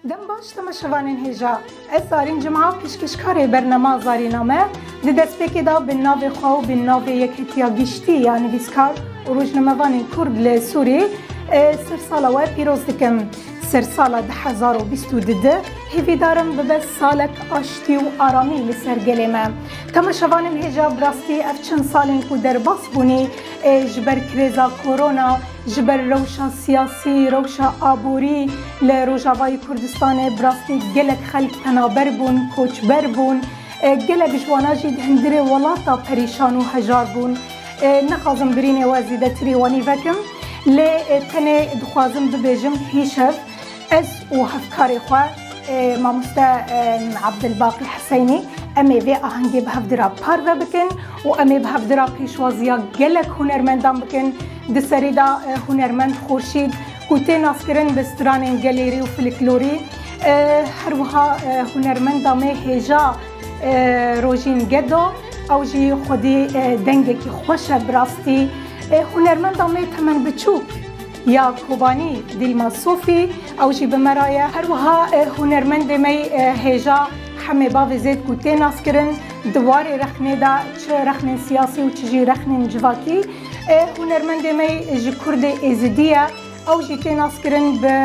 Dem baş dima şivanên hêja. Ez zarîn cuma pêşkêşkarê bernama zarîname di destpêkê de bi navê xwe û bi navê Yekhetiya Giştî ya Nivîskar û Rojnamevanên Kurd li Sûrî sersala we pîroz dikim. Sersala du hezar û bîst û du di hêvîdar im bibe salek aştî û aramî li ser gelê me. Dema şevanên hêja bi rastî ev çend salên ku derbas bûnî ji ber krêza korona, Ji ber rewşa siyasî, rewşa aborî li Rojavayê Kurdistanê bi rastî gelek xelk penaber bûn, koçber bûn. Gelek ji wana jî di hundirê welat de perîşan û hejar bûn. Nexwazim birînê we zêdetirî wanî vekim lê tenê dixwazim bibêjim hîşev. Ez û hevkarê xwe mamoste Abdulbaqî Hiseynî em ê vê ahengê bi hevdira parve bikin û em ê bi hevdira pêşwaziya gelek hunermendan bikin. Di serê de hunermend Xurşîd ku tê naskirin bi stranên gelêrî û fliklorî her wiha hunermenda me hêja Rojîn Gedo ew jî xwedî dengekî xweş e bi rastî hunermenda me temen biçûk. Ya Kobanî, Dîlma Sofî, ew jî bi me re ye. Her wiha hunermendê me hêja Hemê Bavê Zêdkû tê naskirin. Di warê rexnê de çi rexnên siyasî û çi jî rexnên civakî. Hunermendê me ji Kurdê Êzidî ye. Ew jî tê naskirin bi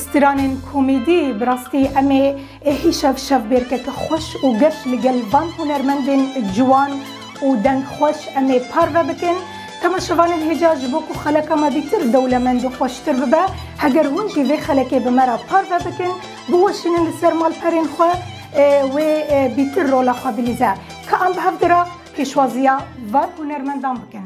stranên komedî. Bi rastî em ê Êhî şev şev bêrkeke xweş û geş li gel van hunermendên ciwan û dengxweş em ê parve bikin. Tema şevanên hêja ji bo ku xeleka me vîtir dewlemend û xweştir bibe. Heger hûn jî vê xelekê bi me re parve bikin, biweşînin li ser malperên xwe wê vîtir rola xwe bilîze. Ka em bi hev dira pêşwaziya van hunermendan bikin.